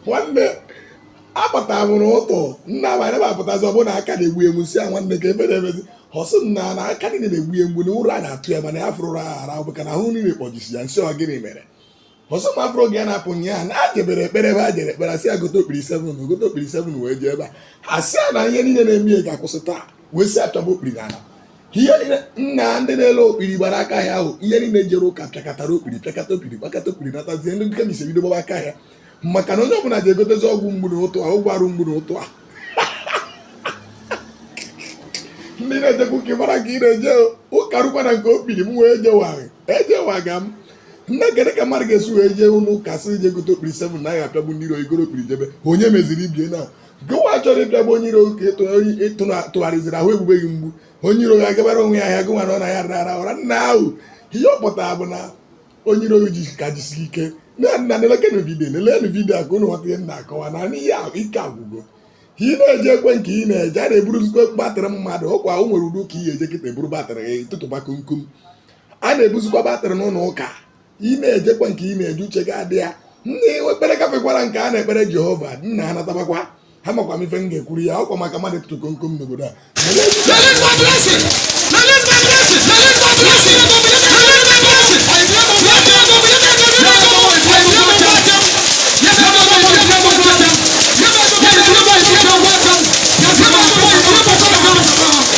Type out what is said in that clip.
nwanne akpọta m ụra ụtụtụ nna abanye m apụtazi ọ bụ na aka na-egbu ya mgbu sị ya nwanne kee ife na-emezi ọ sị nna na aka niile na-egbu ya mgbu na ụra na-atụ ya mana ya fụrụ ụra ara bụ ka na ahụ niile kpọjisi ya m sị ọ gịnị mere ọ sị m afọ oge ya na-apụ ụnyaa na ya jebere ekpere ebe ya jere ekpere a sị ya gote okpiri 7 na gote okpiri 7 wee jee ebe a asị ya na ihe niile na-eme ya ga-akwụsị taa wee si achọba okpiri na ala ihe niile nna ndị na-ele okpiri gbara aka ahịa ahụ ndị niile jere ụka pịakọtara okpiri pịakọta okpiri gbakọta okpiri natazie ndị chemist bido gbaba aka ahịa maka na onye ọbụla ji egotezi ọgwụ mgbu na ụtụtụ a ọgwụ arụ mgbu na ụtụtụ a ndị na-ejekwa ụka ị mara ka ị na-eje ụka rụkwa na nke okpiri m wee jewagha ejewaga m nna kedu ka mmadụ ga-esi wee jee ụlọ ụka sị jee gote okpiri seven na ị ya-apịagbu ndị iro i goro okpiri jebe onye meziri ibe ya na gịwa chọrọ ịpịagbu onye iro ka tụgharịziri ahụ egbube gị mgbu onye iro gị agabara onwe ya ahịa gịwa na ọ na ya rara ụra nna ahụ ihe ọ pụtara bụ na onye iro gị ka jisiri ike na nna nelekenu vidio nelenu vidio a ka ụnụ ghọta ihe m na-akọwa na ihe ike agwụgo ka ị na-ejekwa nke ị na-eje a na-eburuzikwa batrị mmadụ ọkwa o nwere ụlọ ụka ị ga-eje kịta eburu batrị gị tụtụba komkom a na-ebuzikwa batrị n'ụlọ ụka ị na-ejekwa nke ị na-eje uche gị adị ya nna ife ekpere gafekwara nke a na-ekpere jehova nna ha natabakwa ha makwa m ife m ga-ekwuru ya ọkwa maka mmadụ ịtụtụ komkom n'obodo a